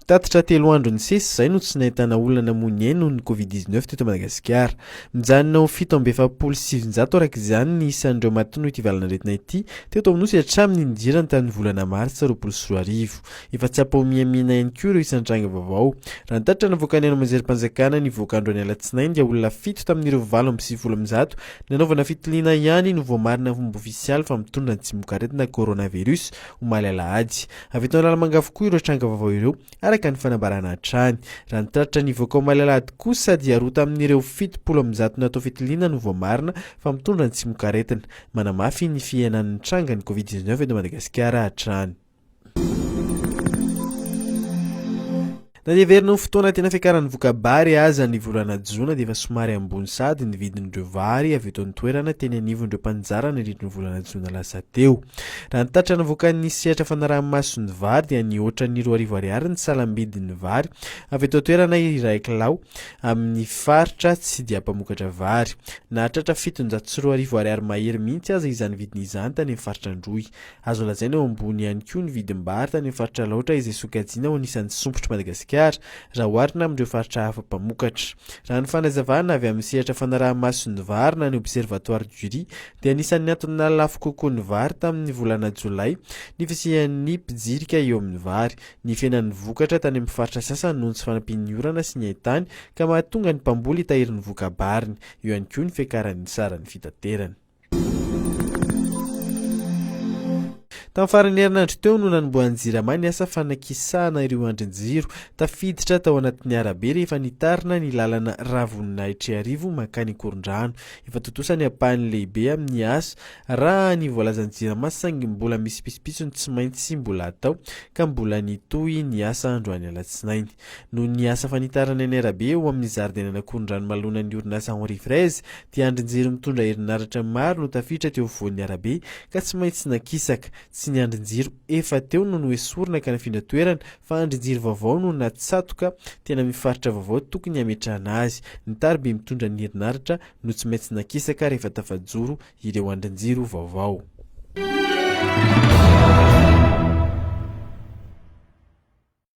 Tatitra telo andro nisesy izay no tsy nahitana olona namoy ny ainy noho ny Covid-19 teto Madagasikara. Mijanona ho fito amby efapolo sy sivinjato araka izany ny isan'ireo maty noho ity valan'aretina ity teto Anosy hatramin'ny nidirany tamin'ny volana martsa roapolo sy roa arivo. Efa tsy ampahomihamiana ihany koa ireo isan-tranga vaovao. Raha ny tatitra navoakan'ny haino aman-jerim-panjakana nivoaka androany alatsinainy dia olona fito tamin'ireo valo amby sivifolo amin'ny zato Nanaovana fitiliana ihany no voamarina momba ofisialy fa mitondra ny tsimokaretina coronavirus, omaly alahady. Avy eto Analamanga avokoa ireo tranga vaovao ireo, araka ny fanambarana hatrany. Raha ny tatitra nivoaka omaly alahady kosa dia roa tamin'ireo fitopolo amby zato natao fitiliana no voamarina fa mitondra ny tsimokaretina. Manamafy ny fihenan'ny trangan'ny covid dix-neuf eto Madagasikara hatrany. Na dia heverina ho fotoana tena fiakaran'ny voka-bary aza ny volana jona dia efa somary ambony sahady ny vidin'ireo vary avy eto an-toerana teny anivon'ireo mpanjara nandritry ny volana jona lasa teo. Raha ny tatitra navoakan'ny sehatra fanaraha-maso ny vary dia nihoatra ny roa arivo ariary ny salam-bidin'ny vary avy eto an-toerana iray kilao amin'ny faritra tsy dia mpamokatra vary. Nahatratra fitonjato sy roa arivo ariary mahery mihitsy aza izany vidiny izany tany amin'ny faritra Androy. Azo lazaina ho ambony ihany koa ny vidim-bary tany amin'ny faritra Alaotra izay sokajiana ho anisan'ny sompitr'i Madagasikara raha oharina amin'ireo faritra hafa mpamokatra. Raha ny fanazavana avy amin'ny sehatra fanaraha-maso ny vary na ny Observatoire du riz dia anisan'ny antony nahalafo kokoa ny vary tamin'ny volana jolay ny fisian'ny mpijirika eo amin'ny vary. Nifenan'ny vokatra tany amin'ny faritra sasany noho ny tsy fanampian'ny orana sy ny haintany ka mahatonga ny mpamboly hitahiry ny voka-bariny. Eo ihany koa ny fiakaran'ny saran'ny fitaterana. Tamin'ny faran'ny herinandro teo no nanombohan'ny Jirama ny asa fanakisahana ireo andrin-jiro tafiditra tao anatin'ny arabe rehefa nitarina ny lalana Ravoninahitra-Iarivo mankany Ankorondrano. Efa tontosa ny ampahany lehibe amin'ny asa raha ny voalazan'ny Jirama saingy mbola misy pitsopitsony tsy maintsy mbola atao ka mbola nitohy ny asa androany alatsinainy. Noho ny asa fanitarana eny arabe eo amin'ny zaridainan'Akorondranomalonan'ny orinasa Henri Fraise dia andrin-jiro mitondra herinaratra maro no tafiditra teo afovoan'ny arabe ka tsy maintsy nakisaka. Tsy ny andrin-jiro efa teo no noesorina ka nafindra toerana fa andrin-jiro vaovao no natsatoka teny amin'ny faritra vaovao tokony hametrahana azy. Ny tariby mitondra ny herinaratra no tsy maintsy nakisaka rehefa tafajoro ireo andrin-jiro vaovao.